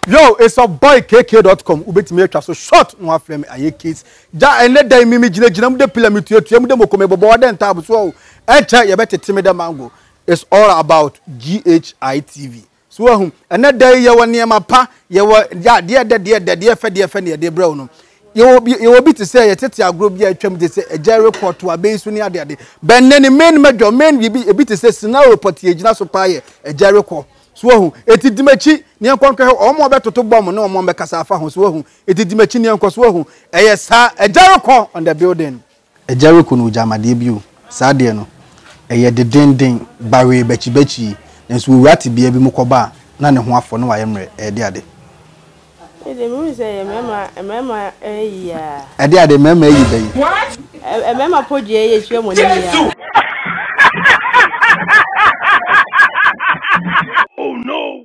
yo it's a boy kk.com wobɛtumi atwa so short na wafrɛ me ayɛ case gya ɛnɛ dan mi megyinagyina mu de pila metuatua mu de mɔkɔ mebɔbɔ wadɛ ntaabo so o ɛnkyɛ yɛbɛtete me dɛ mango it's all about ghi tv So wahu? Ɛnnɛ da yi yɛwɔ nneɛma pa, yɛwɔ adeɛ ɛdɛ, deɛ ɛdɛ, deɛ ɛfɛ, deɛ ɛfɛ na yɛde brɛ wo no. Yɛwɔ bi, yɛwɔ bi te sɛ yɛtete agorɔ bi a atwam te sɛ agya rekɔ to abɛyi so ne ade ade. Bɛn nɛ ne main major, main biribi, ebi te sɛ scenario pɔtee a ɛgyina so paa yɛ agya rekɔ. So wahu? Eti di m'akyi na yɛnkɔ nkɔhwɛ wɔn a wɔbɛtoto bɔmb ne wɔn a wɔbɛkasa afa ho. So wahu? Eti di m'akyi na yɛnkɔ. So wahu? Ɛyɛ saa. Agya rekɔ on the building. Agya reko no ogyaa amadeɛ bio. Saa adeɛ no, ɛyɛ dedenden, bawee bakyibakyii, nanso wɔwura tebea bi mu kɔba a, na ne ho afɔ na wayɛ mmerɛ, ɛɛde ade. Me deɛ, mehu sɛ ɛyɛ mmarima, mmarima ayi a. Ɛde ade, mmarima ayi ba yi. Ɛ, mmarima podua yi atua mo ani yi a. Oh no!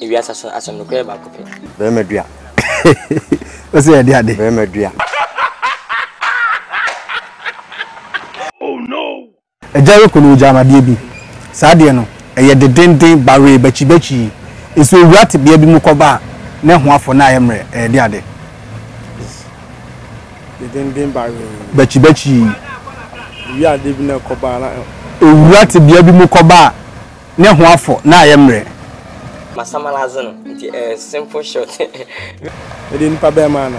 Ewiase asɛm asɛm no kura baako pɛ. Bɛrima dua. o sɛ yɛde ade. Bɛrima dua. oh no. Agya yɛ kunu ogya amadeɛ bi. Saa deɛ no, ɛyɛ de denden bawee bakyibakyi yi. Sɛ owura te bea bi mu kɔba a, ne ho afɔ na ayɛ mmerɛ. Ɛyɛ de ade. De denden bawee. Bakyibakyi yi. Owura te bea bi mu kɔba a. ne ho afɔ na ayɛ mmerɛ. Masamalaze no nti ɛyɛ simple shot. Mede nipa bɛn maa no.